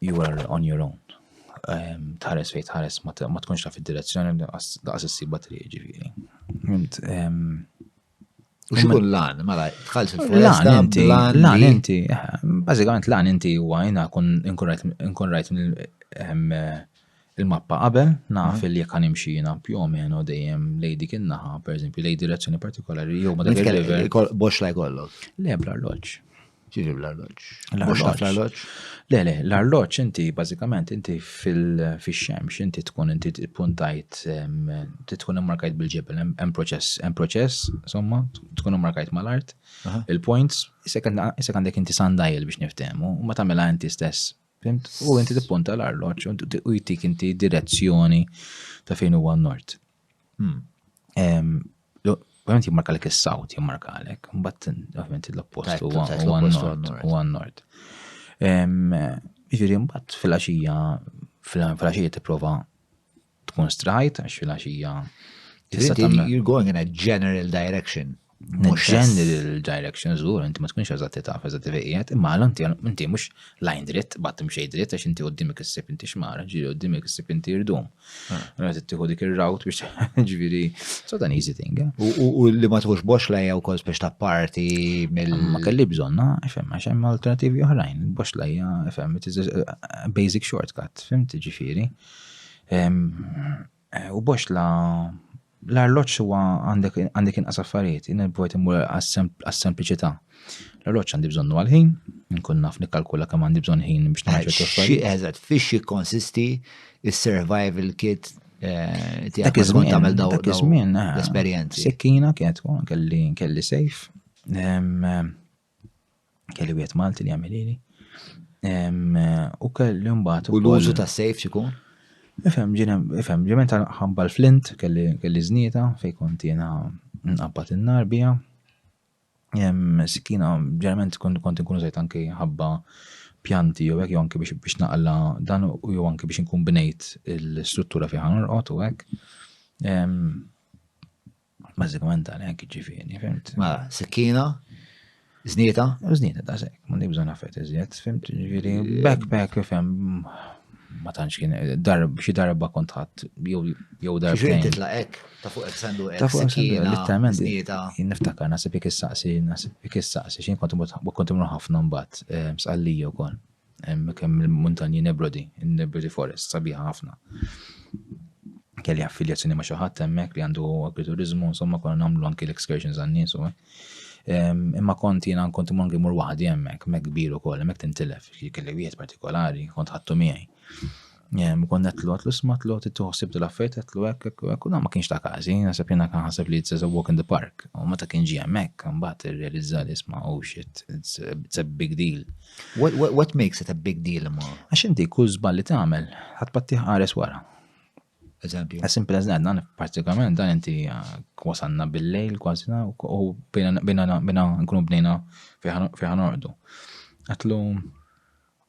You are on your own. Tħares fejn tħares ma tkunx taf id-direzzjoni daqs issibha triq ġifieri. U xikun lan, mela, tħalx il-foresta, lan inti, eh, bazzikament lan inti u għajna nkun rajt ehm, il-mappa qabel, naf mhm. li jek għanimxina più o meno dejjem lej dik innaħa, per eżempju, lej direzzjoni partikolari, jew ma dak il-river. Box laj kollu. Le, bla l-loċ. Ġiri l-arloġġ. Mhux taf l-arloġġ? Le, le, l-arloġġ inti bażikament inti fil-xemx inti tkun inti puntajt tkun immarkajt bil-ġebel hemm proċess, hemm proċess, insomma, tkun immarkajt mal-art, il-points, isek għandek inti sandajl biex niftehmu, u ma tagħmilha inti stess. U inti tippunta l-arloġġ u jtik inti direzzjoni ta' fejn huwa n-nord. Hmm. Ovvijament jimmarkalek is-south, jimmarkalek, mbatt ovvijament l-oppost u għan-nord. Ġifieri mbatt fil-għaxija fil-għaxija tipprova tkun strajt għax fil-għaxija. You're going in a general direction. Mhux general direction żgur, inti ma tkunx eżatti taf eżatti fejn qiegħed, imma għal inti inti mhux lajn dritt, bad imxej dritt għax inti qudiemek issib inti xmara, ġieli qudiemek issib inti irdum. Ah. Mela tittieħu dik ir-route biex ġifieri so dan easy thing. Eh? U li ma tħux box lajja wkoll biex ta' parti mill. Ma kelli bżonna, fem, għax hemm alternativi oħrajn, box lajja, fem, it is a basic shortcut, fim tiġifieri. Eh, u boxla l-arloġġ huwa għandek għandek inqas affarijiet, jien bojt immur għas-sempliċità. L-arloġġ għandi bżonnu għal-ħin, nkun naf nikkalkula kemm għandi bżonn ħin biex nagħmel ċertu affarijiet. Eżatt, fiex jikkonsisti is-survival kit eh, tiegħek kif tkun tagħmel dawn eh, l-esperjenzi. Sekkina kienet kelli kelli sejf. Kelli wieħed Malti li jagħmel lili. U kelli mbagħad. U l-użu ta' sejf xikun? Ifhem, ifhem, ġement ħamba l-flint, kelli znita, fej kont jena nqabbat il-nar bija. Sikina, ġerament kont nkunu zajt anki ħabba pjanti jew hekk jew anki biex naqla dan u jew anki biex nkun bnejt l-istruttura fiha norqod u hekk. Bażikament għalhekk ġifieri, fimt. Ma, mela, sikkina, żnieta. Żnieta ta' sekk, ma nibża nafet iżjed, fimt, ġifieri backpack fem ma tantx kien darb xi darba kont ħadd jew jew darba. Xi titla' hekk ta' fuq hekk sandu hekk. Ta' fuq sikkina, litteralment. Jien niftakar nasib jekk issaqsi, nasib jekk issaqsi x'in kont imur kont imur ħafna mbagħad eh, sqallija wkoll. Hemm kemm il-muntanji Nebrodi, in-Nebrodi Forest, sabiħa ħafna. Kelli affiljazzjoni ma' xi ħadd hemmhekk li għandu agriturizmu, insomma konna nagħmlu anki l-excursions għan-nies u Imma kont jiena kont imur anki mur waħdi hemmhekk, hemmhekk kbir ukoll, hemmhekk tintilef, kelli wieħed partikolari, kont ħadtu miegħi. Jem, kon netlu, għatlu smatlu, tittu ħsib dil-affajt, għatlu ek, ek, ek, u ma kienx ta' kazi, nasab jena kan ħasab li it's a walk in the park, u ma ta' kien ġi għemmek, mbaħt realizza li sma, oh shit, it's a, it's a big deal. What, what, what makes it a big deal, ma? Għax inti kull zbal li tagħmel, ħatpatti ħares wara. Eżempju. As simple as that, dan partikolarment dan inti uh, wasanna bil-lejl kważi u bina nkunu bnejna fiħan ordu. Għatlu,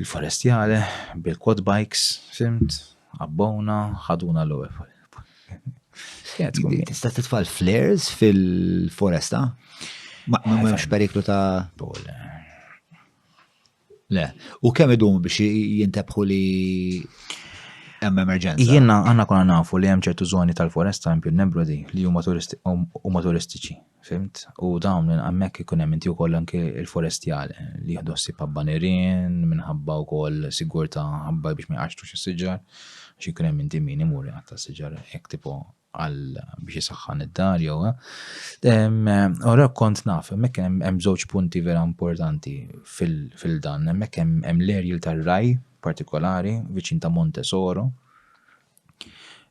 Il-forestjale, bil-quad bikes, fimt, qabbowna, ħaduna l-ewwel. Tista' titfal flares fil-foresta? Ma hemmx periklu ta' Le, u kemm idum biex jintebħu li hemm emerġenza. Jiena għandna konna nafu li hemm ċertu żoni tal-foresta hemm pjun nebrodi li huma turistiċi. Fhimt? U dawn hemmhekk ikun hemm inti wkoll anki l-forestjali li jieħdu ħsieb ħabba nirien, minħabba wkoll sigurtà ħabba biex ma jqaxxrux is-siġar, għax ikun hemm inti min imur iqatta' s-siġar hekk tipo għal biex isaħħan id-dar jew Ora kont naf, hemmhekk hemm żewġ punti vera importanti fil-dan, hemmhekk hemm l-erjil tar-raj partikolari viċin ta' Montesoro,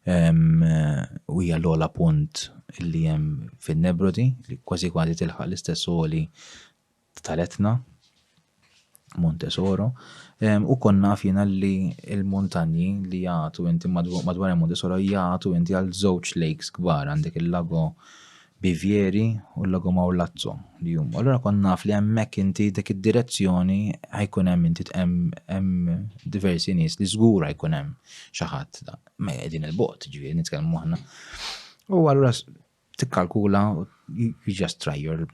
u hija l-ogħla punt li hemm fin-Nebrodi li kważi kważi tilħaq l-istess għoli tal-Etna Montesoro u konna fina li l-muntanji li jagħtu inti madwar Montesoro jagħtu inti għal żewġ lakes kbar għandek il-lago Bivieri u l-Lago Maulazzo li huma. Allura kont naf li hemmhekk inti dik id-direzzjoni ħajkun hemm inti hemm diversi nies li żgur ħajkun hemm xi ħadd ma qegħdin il-bot, ġifieri nitkellmu aħna. U allura tikkalkula you just try your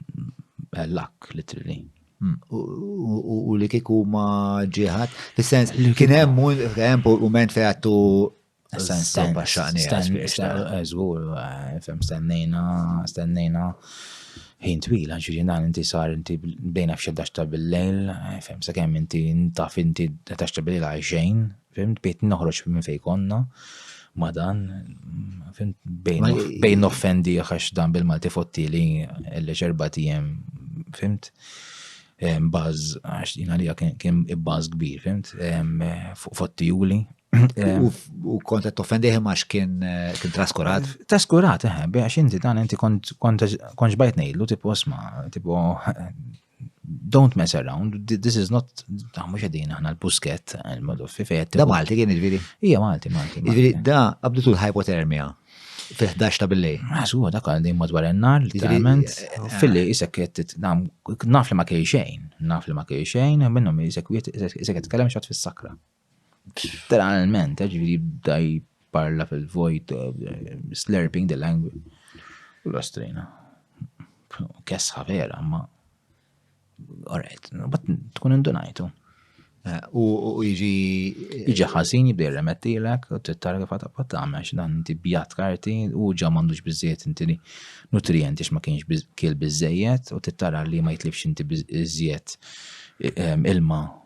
luck literally. Hmm. U li kiku ma ġieħat, fis-sens li kien hemm hemm moment fejn għattu Zgur, eh, fem stennejna, stennejna ħin twil, ġiri dan inti sar inti bdejna f'xeddax ta' bil-lejl, eh, fem sa' kemm inti taf inti tax ta' bil-lejl għajxejn, fem bejt noħroġ minn fej konna, ma dan, fem bejn offendi għax dan bil-Malti fottili l ġerba tijem, fimt? Baz, għax jina li kien baz kbir, fimt? Fottijuli, U kont qed toffendih imma x'kien eh, kien traskurat? Eh, traskurat, eh, għax inti dan inti kont ġbajt ngħidlu tipo sma, tipo don't mess around, this is not, ta' mux għedin aħna l-pusket, il-moduffi fejet. Da Malti kien ġviri? Ija Malti, Malti. Ġviri, da għabdu tul hypothermia fi 11 ta' billej. Għasu, da għal din madwar ennar, literalment, eh, eh, fil-li jisek jettit, naf li ma kej xejn, naf li ma kej xejn, minnom jisek jisek jitkelem xat fis-sakra. Literalment, eh, ġviri bda jparla fil-vojt, eh, slurping the language. U l-ostrina. Kesħa vera, ma. Alright, bat tkun indunajtu. Eh, u iġi. Iġi ħasin jibdi remettilek, u t-tara kif għata pattama, dan inti bjat karti, u ġa mandux bizziet inti li nutrienti ma kienx kiel bizziet, u t-tara li ma jitlifx inti bizziet eh, ilma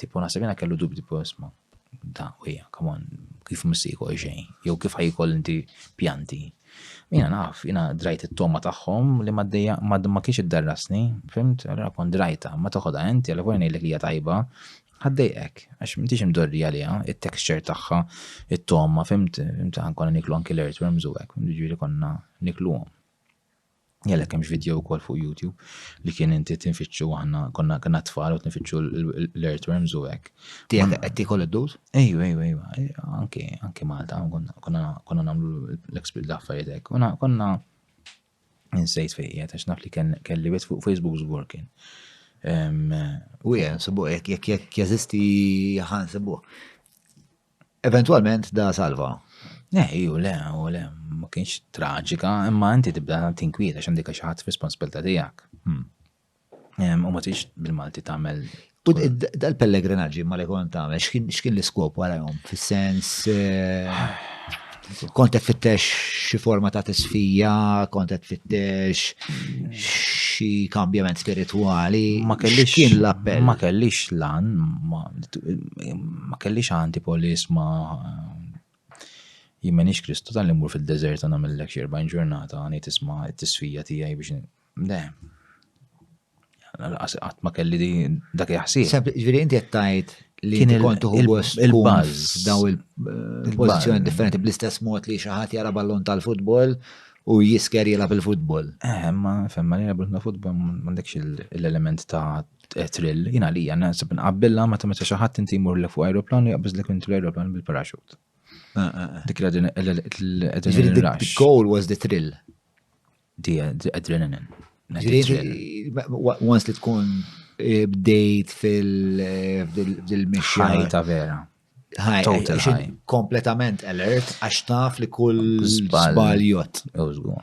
Tipo naħseb jiena kellu dubji tipo isma' da u hija, come on, kif mhux se jkoll xejn, jew kif ħaj jkoll inti pjanti. Jiena naf, jiena drajt it-toma tagħhom li ma dejja ma kienx iddarrasni, fimt, allura kont drajta, ma toħodha int, jalla volja ngħidlek li hija tajba, ħaddejqek, għax m'intix imdorri għaliha, it-texture tagħha, it-toma, fimt, konna niklu anki l-earthworms u hekk, jiġifieri konna nikluhom. Għalhekk hemmx video wkoll fuq YouTube li kien inti tinfittxu aħna konna kena tfal u tinfittxu l-earthworms u hekk. Tiegħek qed tiekol id-dud? Ejju, ejju, ejju. Anke anke Malta konna nagħmlu l-experience l-affarijiet hekk. Konna insejt fejn qiegħed għax naf li kelli wet fuq Facebook żgur kien. U jien, sebu, jekk jeżisti ħan sebu. Eventwalment da salva. Eh, iju le, u le, ma kienx traġika, imma inti tibda tinkwieta x'għandek xi ħadd f'responsabilta tiegħek. Hmm. U ma tix bil-Malti tagħmel U dal-pellegrinaġġi ma li kont tagħmel, x'kien l-iskop warahom? Fis-sens. Eh, Kont qed fittex xi forma ta' tisfija, kont qed fittex xi kambjament spiritwali. Ma kellix kien l-appell. Ma kellix lan, ma kellix anti polis ma jimmenix Kristu tal mur fil-deżert għana mill-lek xerba ġurnata għani tisma t-tisfija tijaj biex. Le. Qatt ma kelli din dak il-ħsieb. Ġifieri inti qed tgħid li kien kont uħu gost il-buzz daw il-pożizzjoni differenti bl-istess mod li xi ħadd jara ballon tal-futbol u jisker jilgħab il-futbol. Eh, ma femma li ballon tal-futbol m'għandekx l-element ta' thrill, jien għalija naħseb nqabbilha ma ta' meta xi ħadd inti jmur fuq ajruplan u jaqbeż lek intu l-ajruplan bil-paraxut. Eh, eh, Dik l-adrenaline rush. The goal was the thrill. Di adrenaline. Once li tkun eh, bdejt fil-mixja. Eh, ta' vera. Kompletament alert, għax taf li kull zbaljot. Użgur.